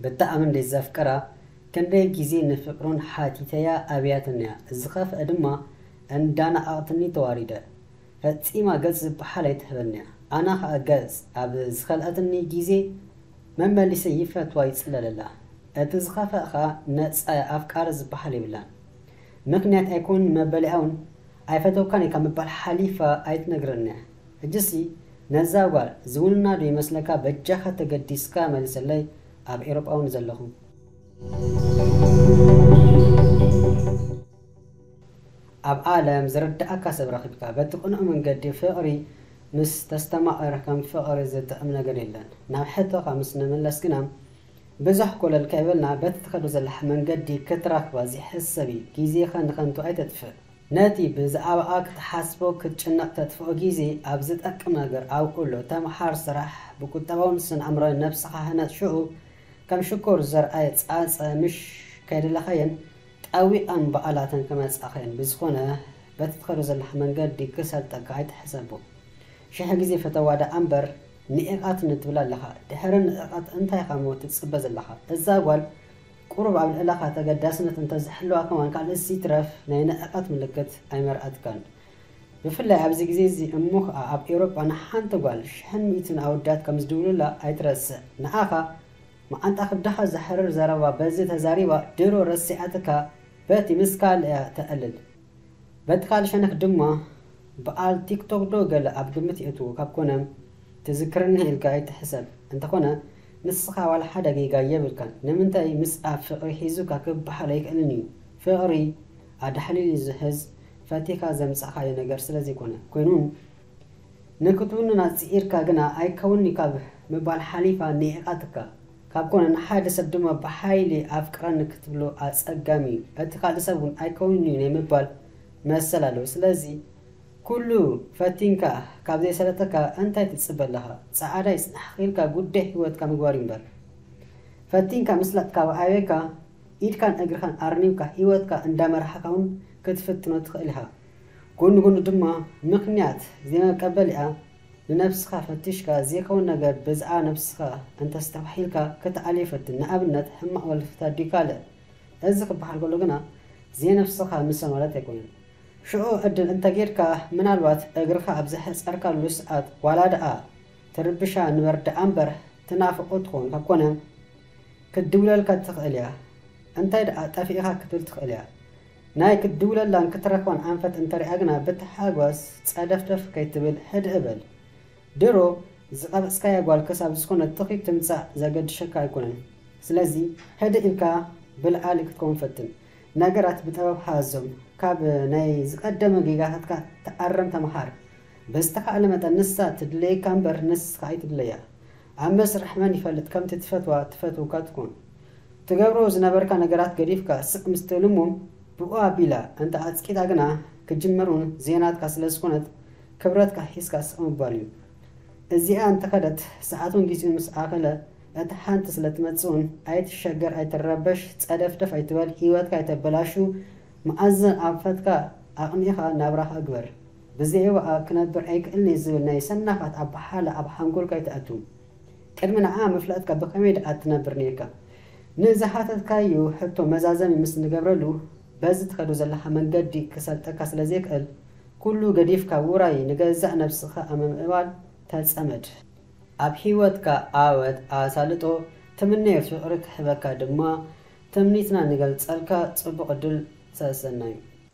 ብጣዕሚ እንዴት ዘፍቅራ ክንደይ ግዜ ንፍቅሩን ሓቲተያ ኣብያትኒያ ዝከፍኣ ድማ እንዳነዓቅትኒ ተዋሪደ ፈጺማ ገጽ ዝብሓል ኣይትህበኒያ ኣና ከኣ ገጽ ኣብ ዝከልኣትኒ ግዜ መመሊሰ ይፈትዋ ይጽለለላ እቲ ዝከፍኣ ከኣ ነጻያ ኣፍቃሪ ዝብሓል የብላን ምክንያት ኣይኮን መበሊኣውን ኣይፈተውካን ኢልካ ምባል ሓሊፋ ኣይትነግረኒያ ሕጂሲ ነዛ ጓል ዝውንና ዶ ይመስለካ በጃኻ ተገዲስካ መልሰለይ ኣብ ኤሮጳ ውን ዘለኹም። ኣብ ኣለም ዝርዳኣካ ሰብ ረኪብካ በቲ ቅኑዕ መንገዲ ፍቅሪ ምስ ተስተማቅር ከም ፍቅሪ ዝጥዕም ነገር የለን ናብ ሕቶካ ምስ ንምለስ ግና ብዙሕ ኮለል ከይበልና በቲ ትከዶ ዘለካ መንገዲ ክትረክባ ዝሕሰብ እዩ ግዜካ ንከንቱ ኣይተጥፍእ ነቲ ብዛዕባኣ ክትሓስቦ ክትጭነቕ ተጥፍኦ ግዜ ኣብ ዝጠቅም ነገር ኣውዕሎ። ተምሓር፣ ስራሕ፣ ብቁጠባውን ስነ-ኣእምሮኣዊን ነብስኻ ህነጽ ሽኡ ከም ሽኮር ዘርኣየ ጻጸ ምሽ ከይደለኻየን ጠዊቐን በኣላተን ክመጻኻየን ብዝኾነ በቲ ትኸዶ ዘለኻ መንገዲ ክሰልጠካ ኣይትሕሰቦ ሽሕ ግዜ ፈተዋ ደኣ እምበር ንዒቐትኒ ትብል ኣለኻ ድሕሪ ንዕቐት እንታይኻ እሞ ትጽበ ዘለኻ እዛ ጓል ቁሩብ ኣብ ልዕለኻ ተገዳስነት እንተ ዝሕልዋ ከማን ካልእስ ይትረፍ ናይ ንዕቀት ምልክት ኣይመርኣትካን። ብፍላይ ኣብዚ ግዜ'ዚ እሞ ከኣ ኣብ ኤውሮጳ ንሓንቲ ጓል ሽሕን ሚእትን ኣወዳት ከም ዝድውሉላ ኣይትረስዕ። ንዓኻ መዓንጣ ክብድኻ ዘሕርር ዘረባ በዚ ተዛሪባ ድሮ ረሲዓትካ በቲ ምስ ካልእ'ያ ተዕልል። በቲ ካልእ ሸነኽ ድማ ብኣል ቲክቶክ ዶ ገለ ኣብ ግምት የእትዉ ካብ ኮነ ትዝክረኒ ኢልካ ኣይትሕሰብ እንተኾነ ንስኻ ዋላ ሓደ ጌጋ የብልካን ንምንታይ ምስ ኣብ ፍቅሪ ሒዙካ ክብሃል ኣይክእልን እዩ ፍቅሪ ኣዳሕሊሉ ዝሕዝ ፈቲኻ ዘምጻእካዮ ነገር ስለዘይኮነ ኮይኑ ንክትውንና ጽኢርካ ግና ኣይከውንንዩ ካብ ምባል ሓሊፋ ንዒቃትካ ካብ ኮነ ንሓደ ሰብ ድማ ብሓይሊ ኣፍቅረኒ ክትብሎ ኣጸጋሚ እዩ። እቲ ካልእ ሰብ እውን ኣይከውንን እዩ ናይ ምባል መሰል ኣለዎ። ስለዚ ኩሉ ፈቲንካ ካብ ዘይሰለጠካ እንታይ ትጽበ ኣለኻ? ጸዓዳ ይጽናሕኺ ኢልካ ጉዳይ ህይወትካ ምግባር እዩ እምበር። ፈቲንካ ምስላጥ ካብ ኣበየካ ኢድካን እግርኻን ኣርኒብካ ህይወትካ እንዳመራሕካ እውን ክትፍትኖ ትኽእል ኢኻ። ጎኒ ጎኑ ድማ ምኽንያት ዘይመቀበሊኣ ንነብስኻ ፈትሽካ ዘይከውን ነገር ብዝኣ ነብስኻ እንተ ኣስተባሒልካ ክትኣልዮ ፈትን ንኣብነት ሕማቅ ወልፍታት ድዩ ካልእ እዚ ክባሃል ከሎ ግና ዘይነብስኻ ምሰ ማለት ኣይኮነን ሽዑ ዕድል እንተ ጌርካ ምናልባት እግርኻ ኣብ ዘሐጸርካሉ ስዓት ዋላ ድኣ ትርብሻ ንበር ድኣ እምበር ትናፍቆ ትኸውን ካብ ኮነ ክትድውለልካ ትኽእል እያ እንታይ ድኣ ጠፊእኻ ክትብል ትኽእል እያ ናይ ክትድውለላን ክትረኽባን ኣንፈት እንተሪኣ ግና ብታሓጎስ ጸደፍደፍ ከይትብል ሕድእ በል። ድሮ ዝቐበጽካያ ጓል ክሳብ ዝኾነ ትኺ ትምጻእ ዘገድሸካ ኣይኮነን። ስለዚ ሕድእ ኢልካ ብልዓሊ ክትከውን ፈትን። ነገራት ብጠበብ ሓዞም። ካብ ናይ ዝቐደመ ጌጋታትካ ተኣረም ተመሃር። ብዝተኻእለ መጠን ንሳ ትድለየካ እምበር ንስኻ ኣይትድለያ። ኣብ መስርሕ መን ይፈልጥ ከምቲ ትፈትዋ እትፈትውካ ትኩን። ትገብሮ ዝነበርካ ነገራት ገዲፍካ ስቅ ምስ ትእልሙም ብኡ ኣቢላ እንተ ኣጽቂጣ ግና ክጅመር ውን ዘይናትካ ስለ ዝኮነት ክብረትካ ሒዝካ ስቅ ምባል እዩ። እዚኣ እንተ ከደት ሰዓቱን ጊዚኡን ምስ ኣከለ እታ ሓንቲ ስለ ትመጽእ ውን ኣይትሸገር ኣይትረበሽ ጸደፍደፍ ኣይትበል ሂወትካ ኣይተበላሹ መኣዘን ኣንፈትካ ኣቅኒእካ ናብራካ ግበር። ብዘይዋኣ ክነብር ኣይክእልን'የ ዝብል ናይ ሰናፋት ኣበሃህላ ኣብ ሓንጎልካ ኣይትኣቱ። ቅድሚ ንዓ ምፍላጥካ ብኸመይ ድኣ ትነብር ኔርካ? ንዝሓተትካዮ ሕቶ መዛዘሚ ምስ ንገብረሉ፣ በዚ ትኸዶ ዘለኻ መንገዲ ክሰልጠካ ስለ ዘይክእል፣ ኩሉ ገዲፍካ ውራይ ንገዛእ ነብስኻ ኣብ ምምዕባል ተጸመድ። ኣብ ሂወትካ ዓወት ኣሳልጦ ትምነዮ ፍቅሪ ክሕበካ ድማ ትምኒትና ንገልጸልካ ጽቡቅ ዕድል ሰሰናዩ።